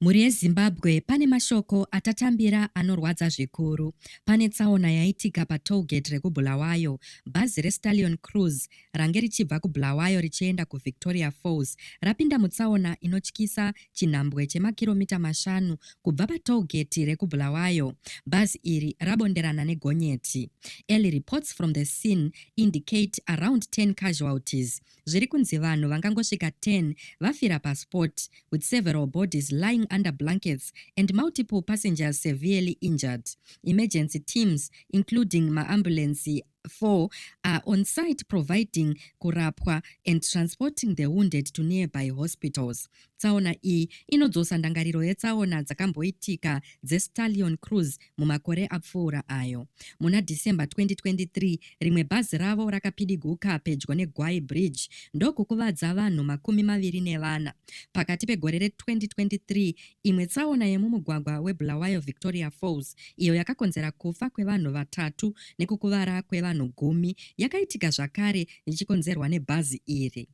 Mhuri yeZimbabwe pane mashoko atatambira anorwadza zvikuru. Pane tsaona yaitika patollgate rekuBulawayo, bhazi reStallion Cruise range richibva kuBulawayo richienda kuVictoria Falls rapinda mutsaona inotyisa chinhambwe chemakiromita mashanu kubva patollgate rekuBulawayo. Bhazi iri rabonderana negonyeti. Early reports from the scene indicate around 10 casualties. zviri kunzi vanhu vangangosvika 10 vafira paspot with several bodies lying under blankets and multiple passengers severely injured. Emergency teams including maambulensi 4 are on site providing kurapwa and transporting the wounded to nearby hospitals. Tsaona iyi inodzosa ndangariro yetsaona dzakamboitika dzeStallion Cruise mumakore apfuura ayo. Muna December 2023, rimwe bhazi ravo rakapidiguka pedyo neGwai Bridge ndokukuvadza vanhu makumi maviri nevana. Pakati pegore re-2023, imwe tsaona yemumugwagwa weBulawayo Victoria Falls, iyo yakakonzera kufa kwevanhu vatatu nekukuvara kwevanhu gumi, yakaitika zvakare ichikonzerwa nebhazi iri.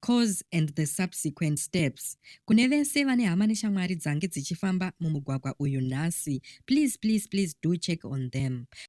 Cause and the subsequent steps. Kune vese vane hama neshamwari dzange dzichifamba mumugwagwa uyu nhasi, please please please do check on them.